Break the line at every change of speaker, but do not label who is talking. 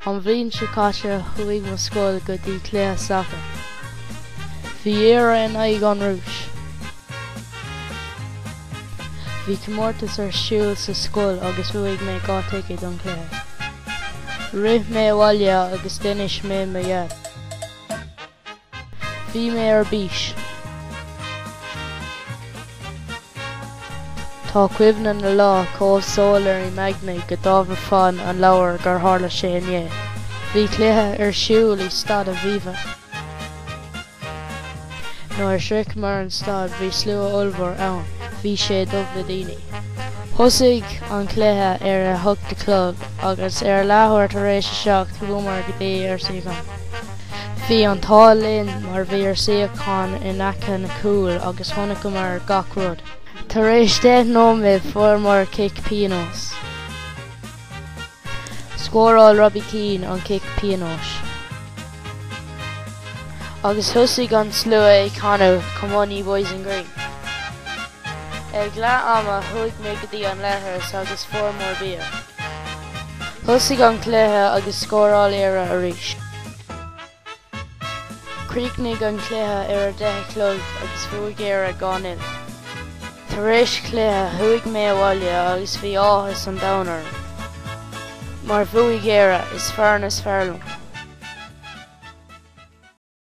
An bhliain seo caite chuaigh mo scoil go dtí cluiche sacair. Bhí Éire in aghaidh an Rúis. Bhí comórtas ar siúl sa scoil agus bhuaigh mé dhá ticéad don chluiche. Rith mé abhaile agus d'inis mé mo dhaid. Bhí mé ar bís. Tá cuimhne na lá chomh soiléir i m'aigne go dtabharfainn an leabhar gur tharla sé inné. Bhí cluiche ar siúl i Staid Aviva. Nuair a shroicheamar an staid bhí slua ollmhór ann, bhí sé dubh le daoine. Thosaigh an cluiche ar a hocht a chlog agus ar a leathuair tar éis a seacht chuamar go dtí ár suíocháin. Bhí an t-ádh linn mar bhí ár suíochán in aice na cúil agus chonaiceamar gach rud. Tar éis deich nóiméad fuaireamar cic pionóis. Scóráil Robbie Keane an cic pionóis. Agus thosaigh an slua ag canadh Come on ye boys in green. Ag leath ama chuaigh mé go dtí an leithreas agus fuaireamar bia. Thosaigh an cluiche agus scóráil Éire arís. Chríochnaigh an cluiche ar a deich a chlog agus bhuaigh Éire dhá nil. Tar éis chluiche chuaigh mé abhaile agus bhí áthas an domhain orm. Mar bhuaigh Éire, is foireann is fearr liom.